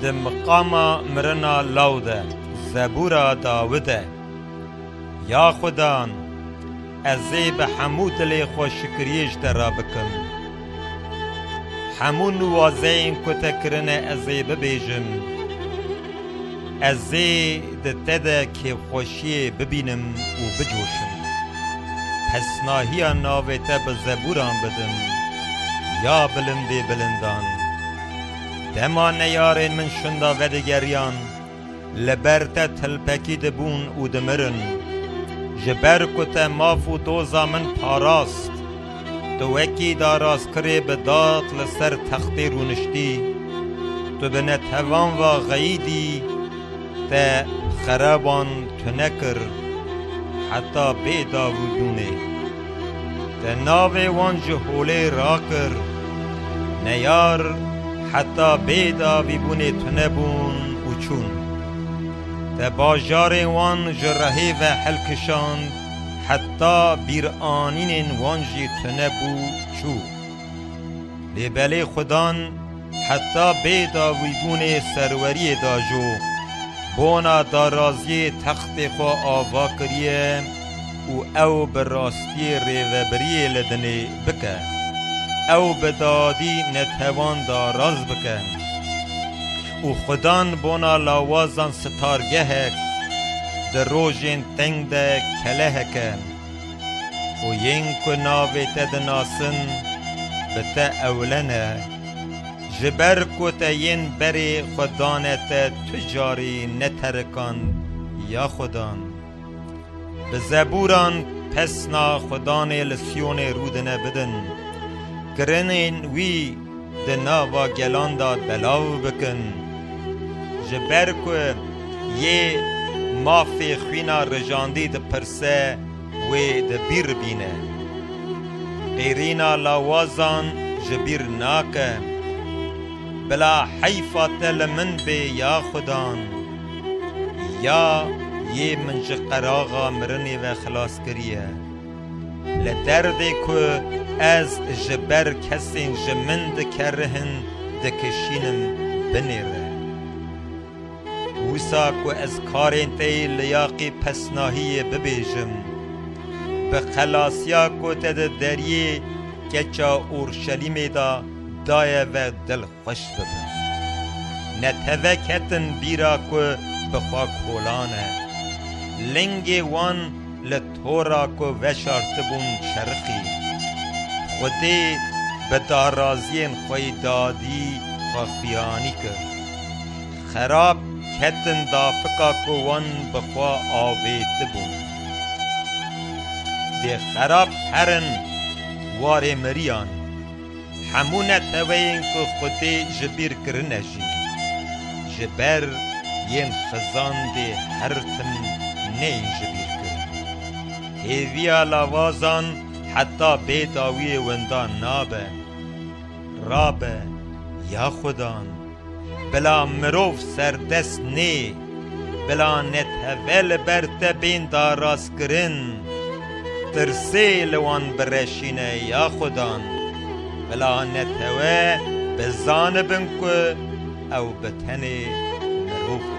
Di miqama mirina law de zebûra Dawid e, Ya Xudan, ez ê bi hemû dilê xwe şikriyê ji te re bikim. Hemû niwazeyên ku te kirine ez ê bibêjim. Ez ê di te de kêfxweşiyê bibînim û bicoşim. Pesnahiya navê te bi zebûran bidim, ya bilindê bilindan. Dema neyarên min şinda vedigeriyan, li ber te tilpekî dibûn û dimirin. Ji ber ku te maf û doza min parast, tu wekî daraskirê bi dad li ser textê rûniştî. Tu bi netevan ve xeyîdî, te xereban tune kir, heta bê dav û dûnê. Te navê wan ji holê rakir. Neyar heta bê davîbûnê tune bûn û çûn. Te bajarên wan ji rehê ve hilkişand heta bîranînên wan jî tune bû çû. Lê belê xwe dan. Heta bê dawîbûnê serweriyê de jû bona daraziyê textê xwe ava kiriye û ew bi rastiyê rêvebiriyê li dinê bike. Ew bi dadî netewan daraz bike û xwe dan bona lawazan sitargehek di rojên teng de keleheke. Û yên ku navê te dinasin, bi te ewilene. Ji ber ku te yên berê xwe dane te tu carî neterikand ya xwe dan. Bi zeburan pesna xwe danê li Siyonê rûdine bidin. Kirinên wî. di nava gelan de belav bikin ji ber ku yê mafê xwîna rijandî dipirse wê di bîr bîne. Qîrîna lawazan ji bîr nake. Bila heyfa te li min bê ya xudan. Ya yê min ji qeraxa mirinê ve xilas kiriye. Li derdê ku ez ji ber kesên ji min dikerihin dikişînim binê re. Wisa ku ez karên te yê li yaqê pesnahiyê bibêjim, bi xelasiya ku te di deriyê keça Urşelîmê de daye ve dil xwe. xweş bibin. Neteve ketin bîra ku bi xwe kolane. Lingê wan li tora ku veşartibûn çerixî. Xwedê bi daraziyên xwe yî dadî xwe xuyanî kir. Xerab ketin dafika ku wan bi xwe avêtibûn. Dê xerab herin warê miriyan. Hemû neteweyên ku Xwedê ji bîr kirine jî ji ber yên xizandê her tim neyên ji bîr kirin. Hêviya lavazan heta bê dawiyê winda nabe. Rabe, ya Xwedan! Bila mirov serdest nê, bila neteve li ber te bên darastkirin, tirsê li wan bireşîne ya xudan, bila netewe bizanibin ku ew bi tenê mirov in.